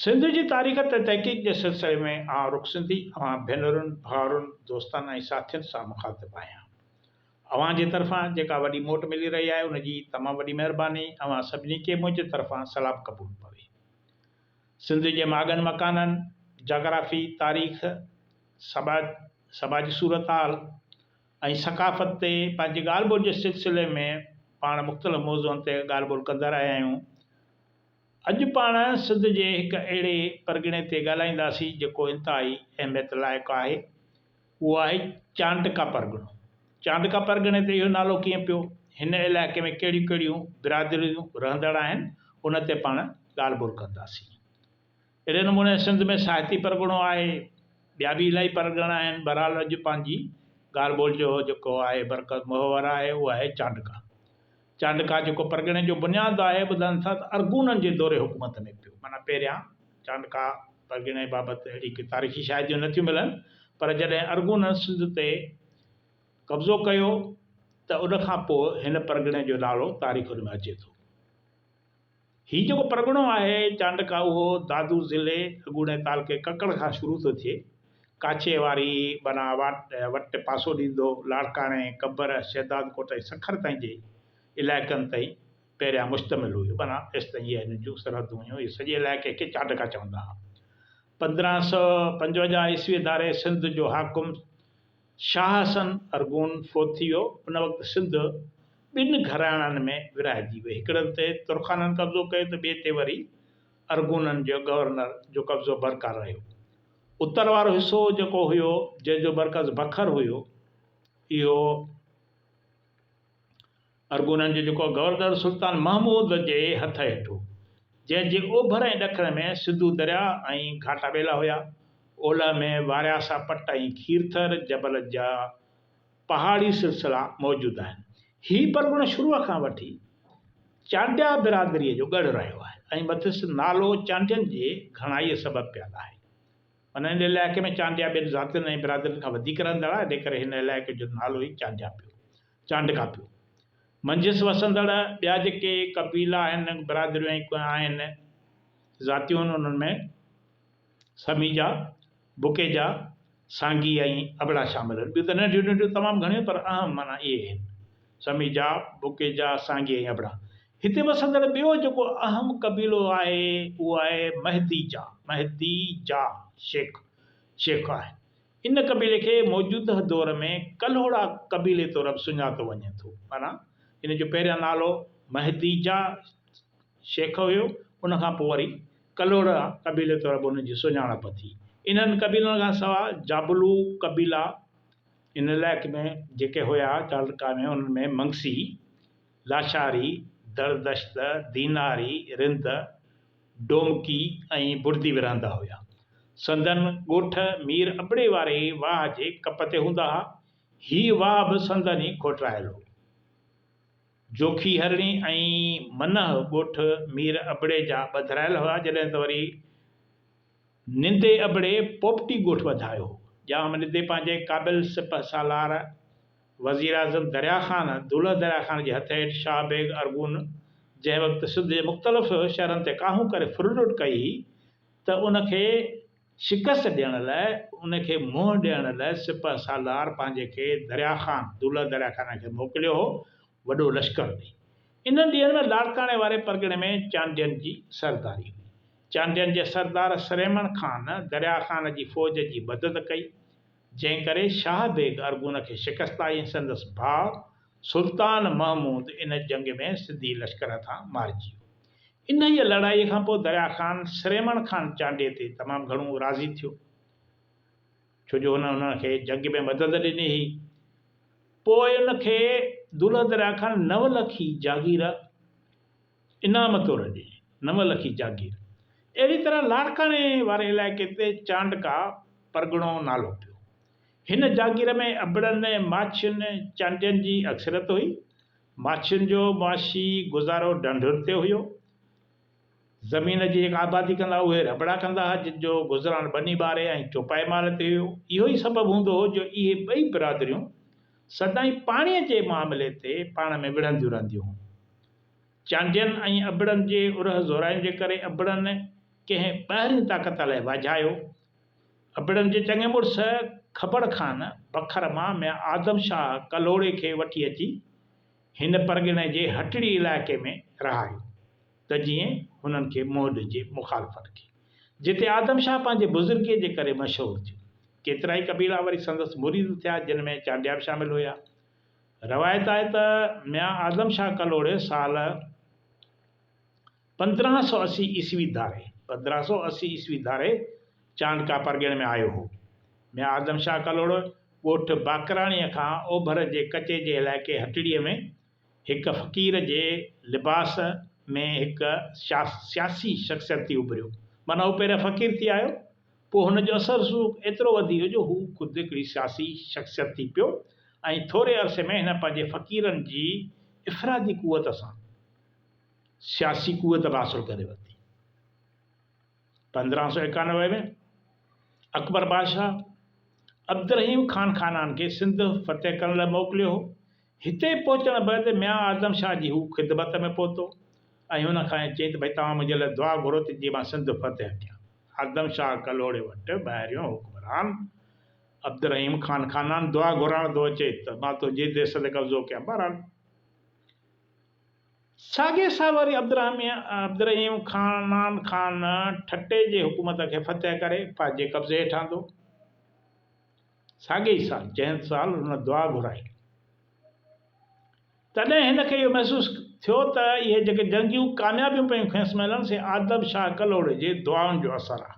سنڌ جي تاريخ تي تحقيق جي سلسلي ۾ آئون رخ سنڌي اوهان ڀينرن، ڀائرن، دوستن ۽ ساٿين سان مخاطب آهيان. اوهان جي طرفان جيڪا وڏي موٽ ملي رهي آهي ان جي تمام وڏي مهرباني اوهان سڀني کي منهنجي طرفان سلام قبول پوي. سنڌ جي ماڳن مڪانن، جاگرافي، تاريخ، سماج، سماجي صورتحال، ۽ ثقافت تي پنهنجي ڳالهه ٻولهه جي سلسلي ۾ پاڻ مختلف موضوعن تي ڳالهه ٻولهه ڪندا رهيا آهيون. اڄ پاڻ سنڌ جي هڪ اهڙي پرڳڻي تي ڳالهائينداسين جيڪو انتهائي اهميت لائق آهي. اهو آهي چانڊڪا پرڳڻو. چانڊڪا پرڳڻي تي اهو نالو ڪيئن پيو؟ هن علائقي ۾ ڪهڙيون ڪهڙيون برادريون رهندڙ آهن؟ ان تي پاڻ ڳالهه ٻولهه ڪنداسين. اهڙي نموني سنڌ ۾ ساهتي پرڳڻو آهي، ٻيا به الائي پرڳڻا آهن، بهرحال اڄ پنهنجي ڳالهه ٻولهه جو جيڪو آهي مرڪز محور آهي اهو آهي چانڊڪا. چانڊڪا جيڪو پرڳڻي جو بنياد آهي، ٻڌن ٿا ته ارغونن جي دور حڪومت ۾ پيو. معنيٰ پهريان چانڊڪا پرڳڻي بابت اهڙي ڪي تاريخي شاهديون نه ٿيون ملن پر جڏهن ارغونن سنڌ تي قبضو ڪيو ته ان کان پوء هن پرڳڻي جو نالو تاريخن ۾ اچي ٿو. هي جيڪو پرڳڻو آهي چانڊڪا اهو دادو ضلعي اڳوڻي تعلقي ڪڪڙ کان شروع ٿو ٿئي. ڪاڇي واري بنا واٽ وٽ پاسو ڏيندو لاڙڪاڻي، قبر، شهدادڪوٽ ۽ سکر تائين جي علائقن تي پهريان مشتمل هيو بنا ايستائين اهي هن جون سرحدون هيون اهي سڄي علائقي کي چانڊڪا چوندا ها. پندرهن سؤ پنجونجاهه عيسوي ڌاري سنڌ جو حاڪم. شاهه حسن ارغون فوت ٿي ويو، ان وقت سنڌ ٻن گهراڻن ۾ ورهائجي وئي، هڪڙن تي ترخانن قبضو ڪيو ته ٻئي تي وري ارغونن جي گورنر جو قبضو برقرار رهيو. اتر وارو حصو جيڪو هيو، جنهن جو مرڪز بکر هيو، اهو. ارغونن جو جڪو گورنر سلطان محمود جي هٿ هيٺ هو، جنهن جي اوڀر ۽ ڏکڻ ۾ سنڌو درياء ۽ گهاٽا ٻيلا هيا، اولهه ۾ وارياسا پٽ ۽ کيرٿر جبل جا پهاڙي سلسلا موجود آهن. هي پرڳڻو شروع کان وٺي چانڊيا برادريء جو ڳڙهه رهيو آهي ۽ مٿس نالو چانڊين جي گهڻائيء سبب پيل آهي. ان هن علائقي ۾ چانڊيا ٻين ذاتين ۽ برادرين کان وڌيڪ رهندڙ آهي، انهيء ڪري هن علائقي جو نالو ئي چانڊيا پيو، چانڊڪا پيو. منجهس وسندڙ ٻيا جيڪي قبيلا آهن، برادريون ۽ ڪنهن آهن، ذاتيون آهن، انهن ۾ سميجا، بوڪيجا، سانگي ۽ ابڙا شامل آهن. ٻيون ته ننڍيون ننڍيون تمام گهڻيون پر اهم معنيٰ اهي آهن. سميجا، بوڪيجا، سانگي ۽ ابڙا. هتي وسندڙ ٻيو جيڪو اهم قبيلو آهي اهو آهي مهديجا، مهدي جا، شيخ، شيخ آهي. ان قبيلي کي موجوده دور ۾ ڪلهوڙا قبيلي طور به سڃاتو وڃي ٿو. معنيٰ ان جو پهريان نالو مهديجا، شيخ، هيو، ان کان پوء وري ڪلهوڙا قبيلي طور به ان جي سڃاڻپ ٿي. انهن قبيلن کان سواء جابلو قبيلا ان علائقي ۾ جيڪي هيا تعلقه ۾ انهن ۾ منگسي، لاشاري، دردشت، ديناري، رند، ڊومڪي ۽ بڙدي ورهندا هيا. سندن ڳوٺ مير ابڙي واري واهه جي ڪپ تي هوندا ها. هي واهه به سندن ئي کوٽرايل هو. جوکي هرڻي ۽ منهه ڳوٺ مير ابڙي جا ٻڌرايل هيا جڏهن ته وري. نندي ابڙي پوپٽي ڳوٺ وڌايو، ڄام نندي پنهنجي قابل سپهه سالار وزيراعظم دريا خان دولهه دريا خان جي هٿ هيٺ شاهه بيگ ارغون جنهن وقت سنڌ جي مختلف شهرن تي ڪاهون ڪري ڦرلٽ ڪئي هئي ته ان کي شڪست ڏيڻ لاء ان کي منهن ڏيڻ لاء سپهه سالار پنهنجي کي دريا خان دولهه دريا خان کي موڪليو هو وڏو لشڪر ڏئي. انهن ڏينهن ۾ لاڙڪاڻي واري پرڳڻي ۾ چانڊين جي سرداري هئي. چانڊين جي سردار سريمڻ خان دريا خان جي فوج جي مدد ڪئي، جنهن ڪري شاهه بيگ ارغون کي شڪست آئي ۽ سندس ڀاء سلطان محمود ان جنگ ۾ سنڌي لشڪر هٿان مارجي ويو. انهيء لڙائيء کان پوء دريا خان سريمڻ خان چانڊي تي تمام گهڻو راضي ٿيو، ڇو جو هن هن کي جنگ ۾ مدد ڏني هئي. پوء ان کي دولهه دريا خان نو لکي جاگير، انعام طور ڏي نو لکي جاگير. اهڙي طرح لاڙڪاڻي واري علائقي تي چانڊڪا پرڳڻو نالو پيو. هن جاگير ۾ ابڙن، ماڇين، چانڊين جي اڪثريت هئي. ماڇين جو معاشي گذارو ڍنڍن تي هيو. زمين جي جيڪا آبادي ڪندا هئا، اهي رٻڙا ڪندا هئا، جن جو گذران ٻني ٻاري ۽ چوپائي مال تي هيو. اهو ئي سبب هوندو هو جو اهي ٻئي برادريون سدائين پاڻيء جي معاملي تي پاڻ ۾ وڙهنديون رهنديون هيون. چانڊين ۽ ابڙن جي اورهه زورائين جي ڪري ابڙن ڪنهن ٻاهرين طاقت الائي واجهايو. ابڙن جي چڱي مڙس کبڙ خان بکر مان ميان آدم شاهه ڪلهوڙي کي وٺي اچي هن پرڳڻي جي هٽڙي علائقي ۾ رهايو ته جيئن هنن کي منهن ڏجي مخالفن کي جتي آدم شاهه پنهنجي بزرگيء جي ڪري مشهور ٿيو. ڪيترائي قبيلا وري سندس مريد ٿيا جن ۾ چانڊيا به شامل هيا. روايت آهي ته ميان اعظم شاهه ڪلهوڙي سال پندرهن سؤ اسي عيسوي ڌاري، پندرهن سؤ اسي عيسوي ڌاري، چانڊڪا پرڳڻي ۾ آيو هو. ميان اعظم شاهه ڪلهوڙو ڳوٺ باقراڻيء کان اوڀر جي ڪچي جي علائقي هٽڙيء ۾ هڪ فقير جي لباس ۾ هڪ سياسي شخصيت ٿي اڀريو. معنيٰ هو پهريان فقير ٿي آيو پوء هن جو اثر رسوخ ايترو وڌي ويو جو هو خود هڪڙي سياسي شخصيت ٿي پيو ۽ ٿوري عرصي ۾ هن پنهنجي فقيرن جي افرادي قوت سان سياسي قوت به حاصل ڪري ورتي. پندرهن سؤ ايڪانوي ۾ اڪبر بادشاهه عبدالرحيم خان خانان کي سنڌ فتح ڪرڻ لاء موڪليو هو، هتي پهچڻ بعد ميان اعظم شاهه جي هو خدمت ۾ پهتو ۽ هن کان چيائين ته ڀئي توهان منهنجي لاء دعا گهرو ته جيئن مان سنڌ فتح ڪيان. اعظم شاهه ڪلهوڙي وٽ ٻاهريون حڪمران عبدالرحيم خان خانان دعا گهرائڻ ٿو اچي ته مان تنهنجي ديس تي قبضو ڪيان. بهرحال ساڳي سال وري عبدالرحيم خانان خان ٺٽي جي حڪومت کي فتح ڪري پنهنجي قبضي هيٺ آندو. ساڳئي ئي سال، جنھن سال ھن دعا گھرائي، تڏھن ھن کي اھو محسوس ٿيو تھ اھي جيڪي جنگيون ڪاميابيون پيون کيس ملن، سي آدم شاھھ ڪلھوڙي جي دعائن جو اثر آ.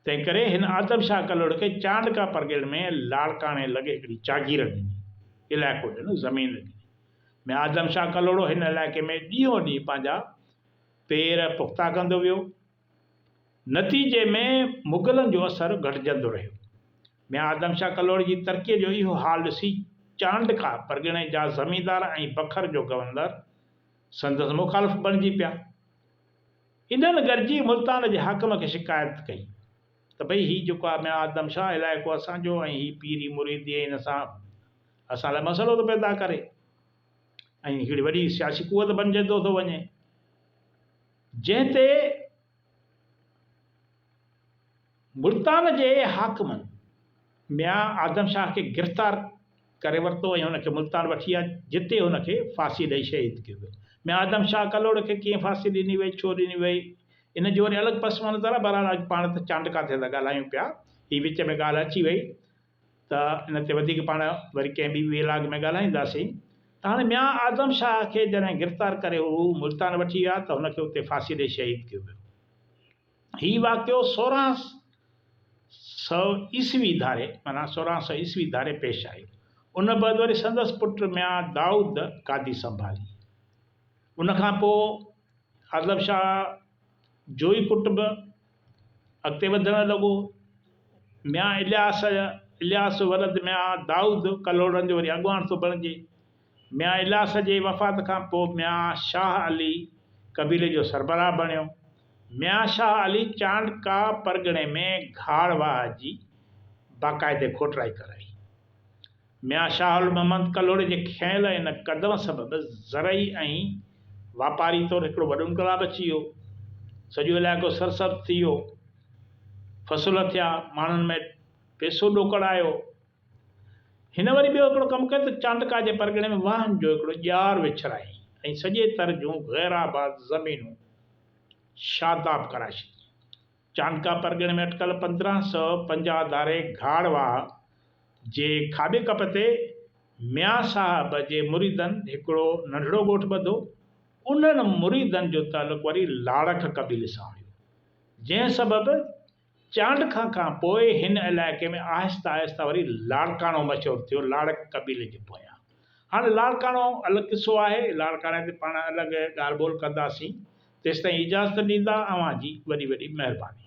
تنھنڪري ھن آدم شاھھ ڪلھوڙي کي چانڊڪا پرڳڻي ۾ لاڙڪاڻي لڳ ھڪڙي جاگير ڏني، علائقو ڏنو، زمين ڏني، ۾ آدم شاھھ ڪلھوڙو ھن علائقي ۾ ڏينھون ڏينھن پنھنجا پير پختا ڪندو ويو نتيجي ۾ مغلن جو اثر گهٽجندو رهيو. ميان آدم شاهه ڪلهوڙي جي ترقيء جو اهو حال ڏسي چانڊڪا پرڳڻي جا زميندار ۽ بکر جو گورنر سندس مخالف بڻجي پيا. انهن گڏجي ملتان جي حاڪم کي شڪايت ڪئي ته ڀئي هي جيڪو آهي ميان آدم شاهه علائقو اسان جو ۽ هي پيري مريدي ۽ ان سان اسان لاء مسئلو ٿو پيدا ڪري ۽ هڪڙي وڏي سياسي قوت بڻجندو ٿو وڃي. جنهن تي ملتان جي حاڪمن ميان آدم شاهه کي گرفتار ڪري ورتو ۽ هن کي ملتان وٺي آيا، جتي هن کي ڦاسي ڏئي شهيد ڪيو ويو. ميان آدم شاهه ڪلهوڙ کي ڪيئن ڦاسي ڏني وئي، ڇو ڏني وئي، ان جو وري الڳ پس منظر آهي، بهرحال اڄ پاڻ ته چانڊڪا تي ٿا ڳالهايون پيا، هي وچ ۾ ڳالهه اچي وئي. ته ان تي وڌيڪ پاڻ وري ڪنهن ٻي ويلاگ ۾ ڳالهائينداسين ته هاڻي ميان اعظم شاهه کي جڏهن گرفتار ڪري هو ملتان وٺي ويا ته هن کي اتي ڦاسي ڏئي شهيد ڪيو ويو. هي واقعو سورهن سؤ عيسوي ڌاري معنيٰ سورهن سؤ عيسوي ڌاري پيش آيو. ان بعد وري سندس پٽ ميان دائود گادي سنڀالي. ان کان پوء اعظم شاهه جوئي ڪٽنب، اڳتي وڌڻ لڳو. ميان الياس الياس ولد ميان دائود ڪلهوڙن جو وري اڳواڻ ٿو بڻجي. ميان الياس جي وفات کان پوء ميان شاهه علي قبيلي جو سربراهه بڻيو. ميان شاهه علي چانڊڪا پرڳڻي ۾ گهاڙ واهه جي باقاعدي کوٽرائي ڪرائي. ميان شاهه المحمد ڪلهوڙي جي کنيل ان قدم سبب زرعي ۽ واپاري طور هڪڙو وڏو انقلاب اچي ويو. سڄو علائقو سرسبز ٿي ويو. فصل ٿيا. ماڻهن ۾ پئسو ڏوڪڙ آيو. هن وري ٻيو هڪڙو ڪم ڪيو ته چانڊڪا جي پرڳڻي ۾ واهن جو هڪڙو ڄار وڇرايائين ۽ سڄي تر جون غيرآباد زمينون شاداب ڪرائي ڇڏيون. چانڊڪا پرڳڻي ۾ اٽڪل پندرهن سؤ پنجاهه ڌاري گهاڙ واهه جي کاٻي ڪپ تي ميان صاحب جي مريدن هڪڙو ننڍڙو ڳوٺ ٻڌو. انهن مريدن جو تعلق وري لاڙڪ قبيلي سان هيو، جنهن سبب چانڊڪا کان پوء هن علائقي ۾ آهستي آهستي وري لاڙڪاڻو مشهور ٿيو، لاڙڪ قبيلي جي پويان. هاڻي لاڙڪاڻو الڳ قصو آهي، لاڙڪاڻي تي پاڻ الڳ ڳالهه ٻولهه ڪنداسين، تيستائين اجازت ڏيندا، اوهان جي وڏي وڏي مهرباني.